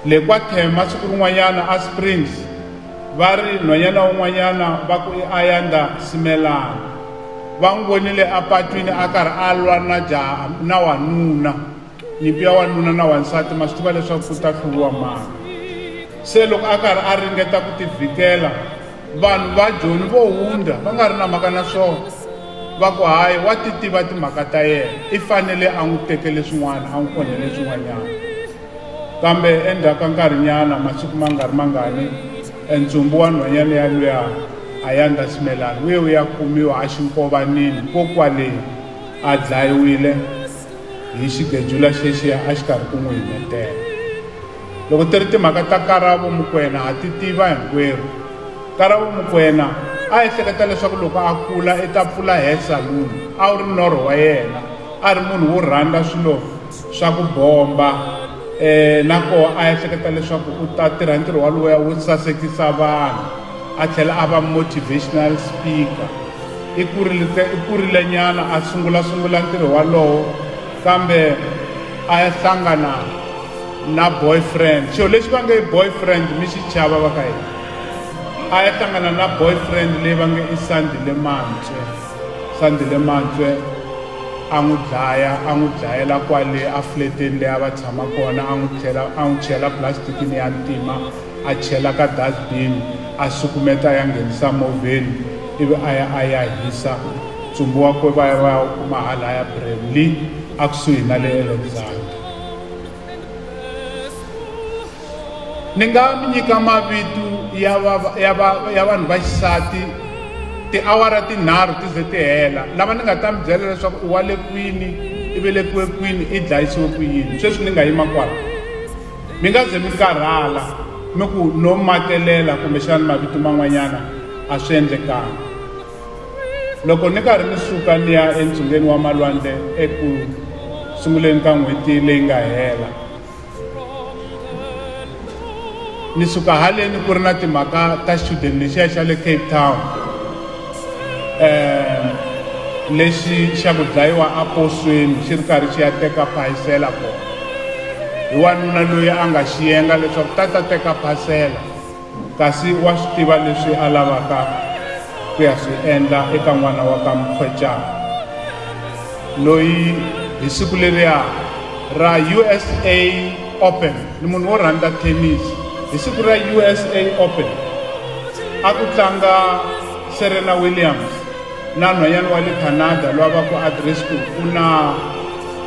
le kwathema siku rin'wanyana a springs va ri nhwanyana wun'wanyana va ku i ayanda simelana va n'wi vonile apatwini a karhi a lwa na jaha na wanuna nyimpi ya wanuna na wansati ma swi tiva leswaku ku ta hluviwa mani se loko a karhi a ringeta ku tivhikela vanhu va joni vo hundza va nga ri na mhaka na swona va ku hayi wa ti tiva timhaka ta yena i fanele a n'wi tekele swin'wana a n'wi onhele swin'wanyana kambe endzhaku ka nkarhinyana masiku ma nga ri mangani entsumbu wa nhwanyana ya luya a ya nga simelani uye u ya kumiwa a xinkovanini kokwaleni a dlayiwile hi xigejula xexiya a xi karhi ku n'wi himetela loko ti ri timhaka ta karavo mukwena ha ti tiva hinkwerhu karavo mukwena a ehleketa leswaku loko a kula i ta pfula hair saloon a wu ri norho wa yena a ri munhu wo rhandza swilo swa ku bomba um na koho a ehleketa leswaku u ta tirha ntirho waloya wo sasekisa vanhu a tlhela a va motivational speaker i kurile i kurile nyana a sungula sungula ntirho walowo kambe a ya hlangana na boyfriend xo lexi va nge boyfriend mi xi chava va ka yena a ya hlangana na boyfriend leyi va nge i sandile mantswe sandile mantswe a n'wi dlaya a n'wi dlayela kwale a fleteni leyi a va tshama kona a n'wi tlhela a n'wi chela plastikini ya ntima a chela ka dustbin a sukumeta ya nghenisa movheni ivi a ya a ya hisa ntsumbu wa kwe va ya va ya wu kuma halaya bremley a kusuhi na le alexander ni nga mi nyika mavito ya va ya va ya vanhu va xisati tiawara tinharhu ti ze ti hela lava ni nga ta mi byela leswaku i wa le kwini i velekiwe kwini i dlayisiwe ku yini sweswi ni nga yima kwala mi nga ze mi karhala mi ku no matelela kumbexana mavito man'wanyana a swi endlekanga loko ni karhi ni suka ni ya entsungeni wa malwandle eku sunguleni ka n'hweti leyi nga hela ni suka haleni ku ri na timhaka ta xichudeni lexiya xa le cape town um lexi xa ku dlayiwa aposweni xi ri karhi xi ya teka phayisela kona hi wanuna loyi a nga xiyenga leswaku ta ta teka phasela kasi wa swi tiva leswi a lavaka ku ya swi endla eka n'wana wa ka mukhwecana loyi hi siku leriya ra usa open ni munhu wo rhandza tennis hi siku ra usa open a ku tlanga serena williams na nhwanyana wa le canada loyi a va ku adresku u na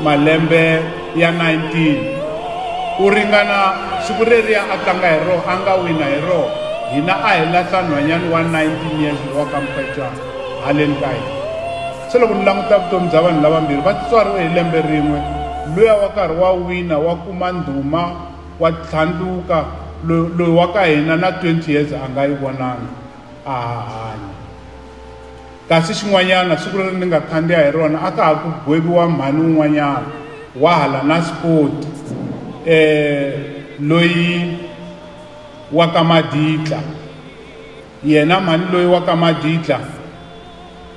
malembe ya 19 ku ringana siku reriya a tlanga hi roho a nga wina hi roho hina a hi lahla nhwanyana wa 19 years lowa ka mufecwana haleni ka hina se loko ni languta vutomi bya vanhu lavambirhi va tswariwe hi lembe rin'we luya wa karhi wa wina wa kuma ndhuma wa tlhandluka loyi wa ka hina na 20 years a nga yi vonanga a hahanya Kasi xin'wanyana, siku leri ni nga khandziya hi rona a ka ha ku gweviwa mhani un'wanyana wa hala Naspoti um loyi wa ka Maditla. Yena mhani loyi wa ka Maditla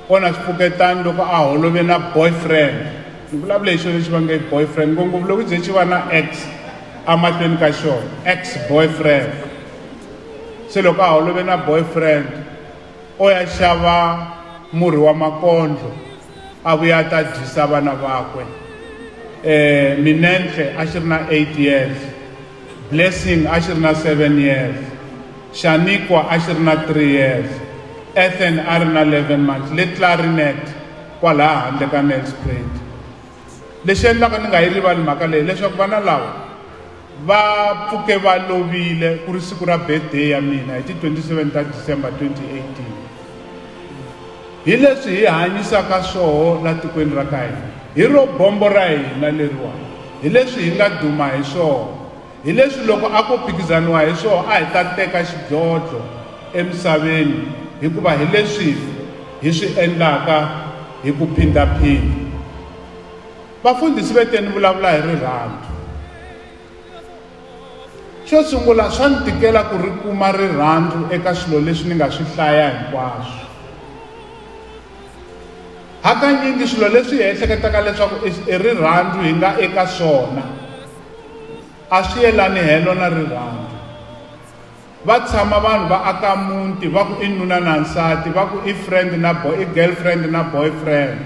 o na swipfuketani loko a holove na boyfriend. Ni vulavula hi xilo lexi va nge boyfriend ngopfu loko ze xi va na ex amahlweni ka xona ex boyfriend. Se loko a holove na boyfriend, o ya xava murhi wa makondlo a vuya a ta dyisa vana vakwe eh minenhle a xi ri na 8 years blessing a xi ri na 7 years xanikwa a xi ri na 3 years ethan a ri na 11 months le clarinet kwalaha handle ka nelspruit Lexi endlaka ni nga yi rivali mhaka leyi leswaku vana lava va pfuke va lovile ku ri siku ra birthday ya mina hi ti 27 ta December 2018 hi leswi hi hanyisaka swoho la tikweni ra ka hina hi ro bombo ra hina leriwa hi leswi hi nga duma hi swona Hi leswi loko a ko phikizaniwa hi swona a hi ta teka xidlodlo emisaveni hikuva hi leswi hi swi endlaka hi ku phindha-phindha. Vafundhisi ve te ni vulavula hi rirhandzu. Xo sungula swa ni tikela ku ri kuma rirhandzu eka swilo leswi ni nga swi hlaya hinkwaswo. Hakanyingi swilo leswi hi ehleketaka leswaku i rirhandzu hi nga eka swona, a swi yelani helo na rirhandzu va tshama vanhu va aka muti va ku i nuna na nsati va ku i friend na boy i girlfriend na boyfriend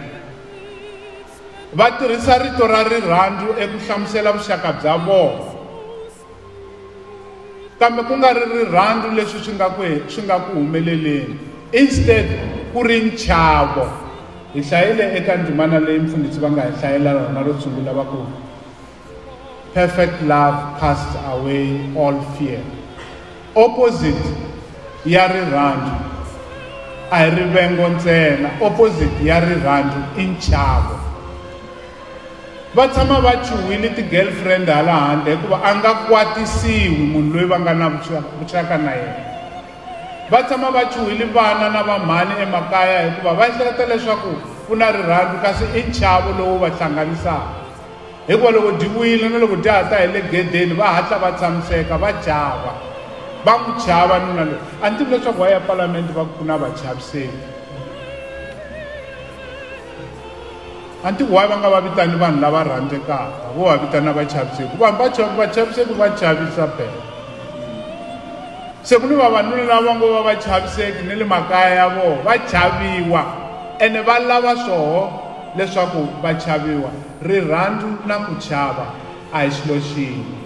va tirhisa rito ra rirhandzu eku hlamusela vuxaka bya vona kambe ku nga ri rirhandzu leswi swi nga ku swi nga ku humeleleni instead ku ri nchavo hi hlayile eka ndzimana leyi mfundhisi va nga hi hlayela rona ro sungula va ku Perfect love casts away all fear. Opposite ya rirhandzu a hi rivengo ntsena opposite ya rirhandzu i nchavo va tshama va chuhile ti-girlfriend hala handle hikuva a nga kwatisiwi munhu loyi va nga na vuxaka na yena va tshama va chuhile vana na vamhani emakaya hikuva va ehleketa leswaku ku na rirhandzu kasi i nchavo lowu va hlanganisaka hikuva loko byi wile na loko dya ha ta hi le gedeni va hatla va tshamiseka va chava va n'wi chava nuna loyi a ni tivi leswaku wa ya palamende va ku na vachaviseki a ni tivi wayi va nga va vitani vanhu lava rhandzekaka vo va vitana vachaviseki vanhu va vachaviseki va chavisa bela se ku ni vavanuna lava va ngo va vachaviseki ni le makaya ya vona va chaviwa ene va lava swoho Leswaku va chaviwa, rirhandzu na ku chava a hi xilo xin'we.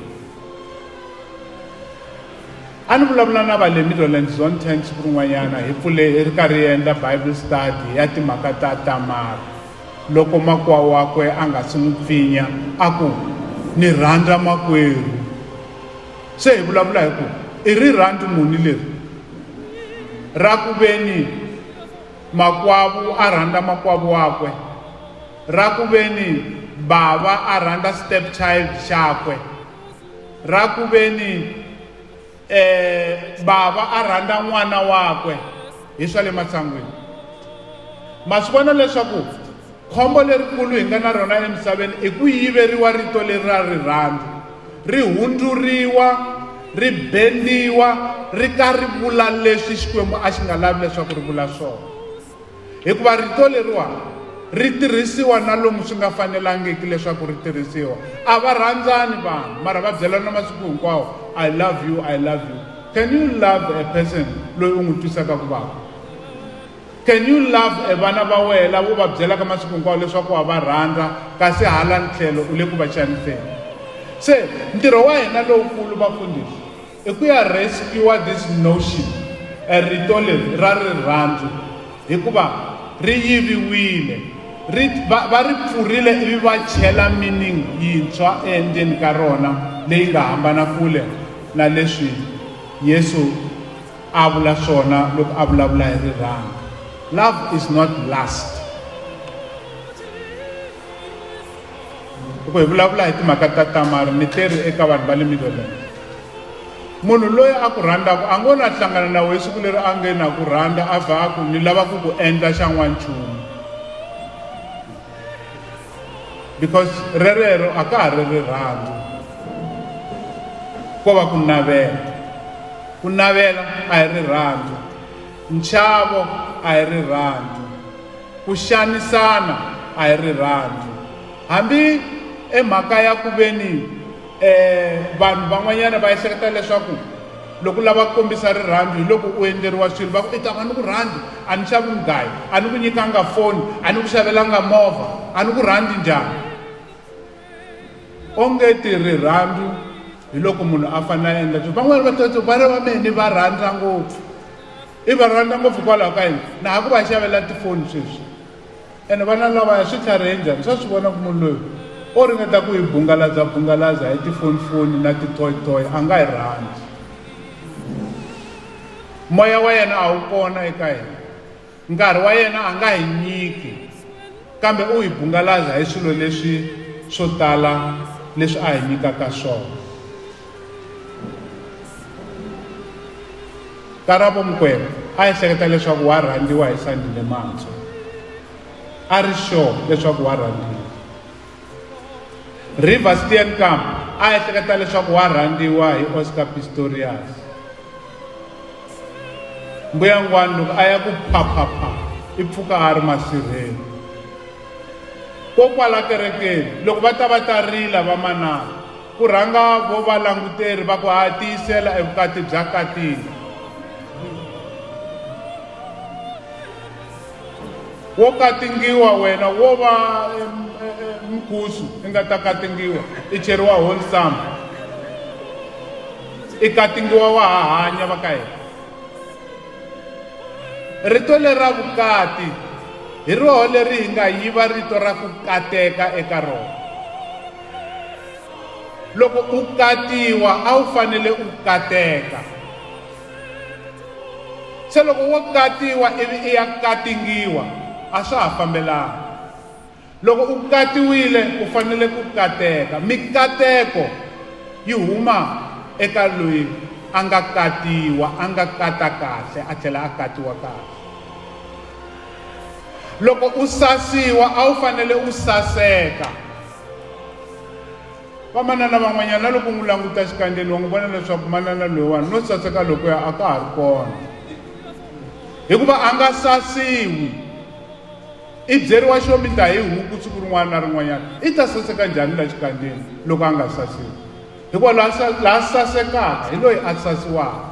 A ni vulavula na va le Middleland Zone 10 siku rin'wanyana hi pfule hi ri karhi hi endla Bible study ya timhaka ta Tamara. Loko makwa wakwe a nga si n'wi pfinya a ku, ni rhandza makwerhu. Se hi vulavula hi ku i rirhandzu muni leri ra ku veni Makwavu a rhandza makwavu wakwe, ra ku veni bava a rhandza stepchild xakwe, ra ku veni eh bava a rhandza n'wana wakwe hi swa le matsangwini ma swi vona leswaku Khombo lerikulu hi nga na rona emisaveni i ku yiveriwa rito leri ra rirhandzu, ri hundzuriwa, ri bendiwa, ri ka ri vula leswi Xikwembu a xi nga lavi leswaku ri vula swona. Hikuva rito leriwani ri tirhisiwa na lomu swi nga fanelangiki leswaku ri tirhisiwa a va rhandzani vanhu mara va byelana masiku hinkwawo i love you i love you can you love a person loyi u n'wi twisaka ku vava Can you love e vana va wehe lava u va byelaka masiku hinkwawo leswaku wa va rhandza kasi hala ntlhelo u le ku va xaniseni se ntirho wa hina lowukulu vafundhisi i ku ya rescue this notion e rito leri ra rirhandzu hikuva ri yiviwile ri va, va ri pfurile ivi va chela meaning yintshwa endzeni ka rona leyi nga hambana kule na leswi yesu a vula swona loko a vulavula hi rirhandzu love is not last loko hi vulavula hi timhaka ta tamari ni teri eka vanhu va le middleland munhu loyi a ku rhandzaka a ngo na hlangana na wehe siku leri a nge na ku rhandza a vha a ku ni lava ku ku endla xa n'wanchumu because rerero a ka ha ri rirhandzu ko va ku navela ku navela a hi rirhandzu nchavo a hi rirhandzu ku xanisana a hi rirhandzu hambi emhaka ya ku veni um vanhu van'wanyana va ehleketa leswaku loko u lava ku kombisa rirhandzu hi loko u endleriwa swilo va ku i ta va ni ku rhandzi a ni xavi mugayi a ni ku nyikanga foni a ni ku xavelanga movha a ni ku rhandzi njhani onge ti rirhandzu hi loko munhu a fanele a endla swilo van'wana va tata vana va mehe ni va rhandza ngopfu i va rhandza ngopfu hikwalaho ka yini na ha ku va xavela tifoni sweswi ene vana lavaya swi tlharihe njhani swa swi vona ku munhu loyi o ringeta ku hi bungalaza bungalaza hi tifonifoni na titoyitoyi a nga hi rhandzi moya wa yena a wu kona eka yena nkarhi wa yena a nga hi nyiki kambe u hi bungalaza hi swilo leswi swo tala leswi a hi nyikaka swona karabo mukwena a ehleketa leswaku wa rhandziwa hi sandile mantswa a ri sure leswaku wa rhandziwa river stian camp a ehleketa leswaku wa rhandziwa hi oscar pistorius mbuyangwani loko a ya ku phaphapha i pfuka a ri masirheni kokwala kerekeni loko va ta va ta rila vamanana Ku rhanga vo valanguteri va ku haha tiyisela evukati bya katini wo katingiwa wena wo va mkusu i nga ta katingiwa i cheriwa wholesome i katingiwa wa ha hanya va ka yena rito lera vukati hi roho leri hi nga yiva rito ra ku kateka eka rona loko u katiwa a wu fanele u kateka se loko wo katiwa ivi i ya katingiwa a swa ha fambelanga loko u katiwile u fanele ku kateka mikateko yi huma eka loyi a nga katiwa a nga kata kahle a tlhela a katiwa kahle loko u sasiwa a wu fanele u saseka Vamanana van'wanyana na loko u n'wi languta xikandzeni wa n'wi vona leswaku manana loyiwani no saseka lokuya a ka ha ri kona hikuva a nga sasiwi i byeriwa xo mi ta hi huku siku rin'wana na rin'wanyana i ta saseka njhani la xikandzeni loko a nga sasiwi hikuva laha laha sasekaka hi loyi a sasiwaka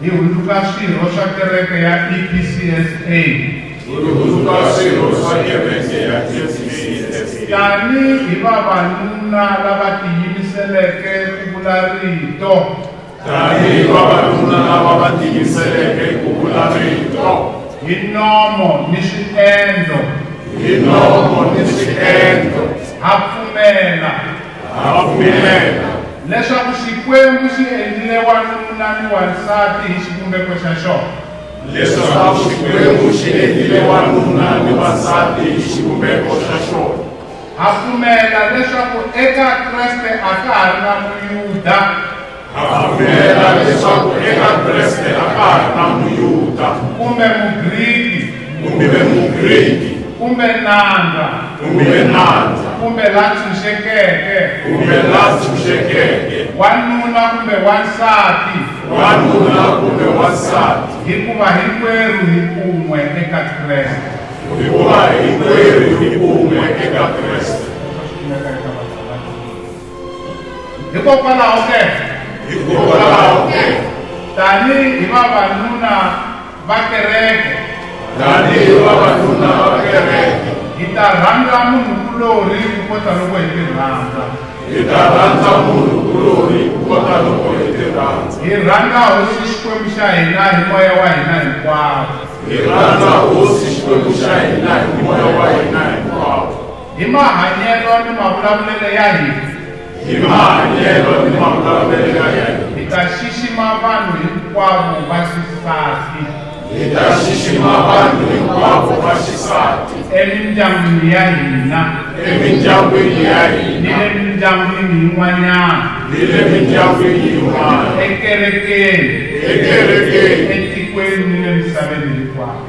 Hi hundzuka swirho swa kereke ya EPCSA. Hi hundzuka swirho swa kereke ya EPCSA. Tani hi vavanuna lava tiyimiseleke ku vula rito. Tani hi vavanuna lava va tiyimiseleke ku vula rito. Hi nomo ni swiendlo. Hi nomo ni swiendlo. Ha pfumela. Ha pfumela leswaku Xikwembu xi endlile wanuna ni wansati hi xivumbeko xa xona. Leswaku Xikwembu xi endlile wanuna ni wansati hi xivumbeko xa xona. Ha pfumela leswaku eka Kreste a ka ha ri na Muyuda. ripfumela leswaku eka Kreste a ka ha ri na Muyuda kumbe Mugriki kumbe Mugriki kumbe nandza kumbe nandza kumbe la tshunxekeke kumbe la tshunxekeke wanuna kumbe wansati wanuna kumbe wansati hikuva hinkwerhu hi kun'we eka Kreste hikuva hinkwerhu hi kun'we eka Kreste hikokwalaho ke hikokwalaho ke tanihi vavanuna va kereke tanihi vavanuna va kereke hi ta rhandza munhu kulori ku kota loko hi ti rhandza hi ta rhandza munhu kulori ku kota loko hi ti rhandza hi rhandza hosi xikwembu xa hina hi moya wa hina hinkwawo hi rhandza hosi xikwembu xa hina hi moya wa hina hinkwawo Hi mahanyelo ni mavulavulelo ya hina. Hi mahanyelo ni mavulavulelo ya hina. Hi ta xixima vanhu hinkwavo va xisati. Hi ta xixima vanhu hinkwavo va xisati. Emindyangwini ya hina. Emindyangwini ya hina. Ni le mindyangwini yin'wanyana. Ni le mindyangwini yin'wana. Ekerekeni. Ekerekeni. Etikweni ni le misaveni hinkwayo.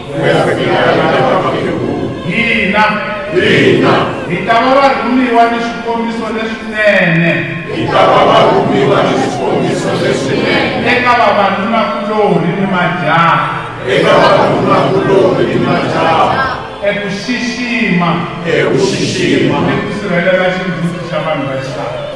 hina hina hi ta va varhumiwa ni swikombiso leswinene hi ta va varhumiwa ni swikombiso leswinene eka vavanunakulorhi ni majaha eka vavanunakulorhi ni majaha eku xixima eku xixima ni ku sirhelela xindzhuti xa vanhu va xitalo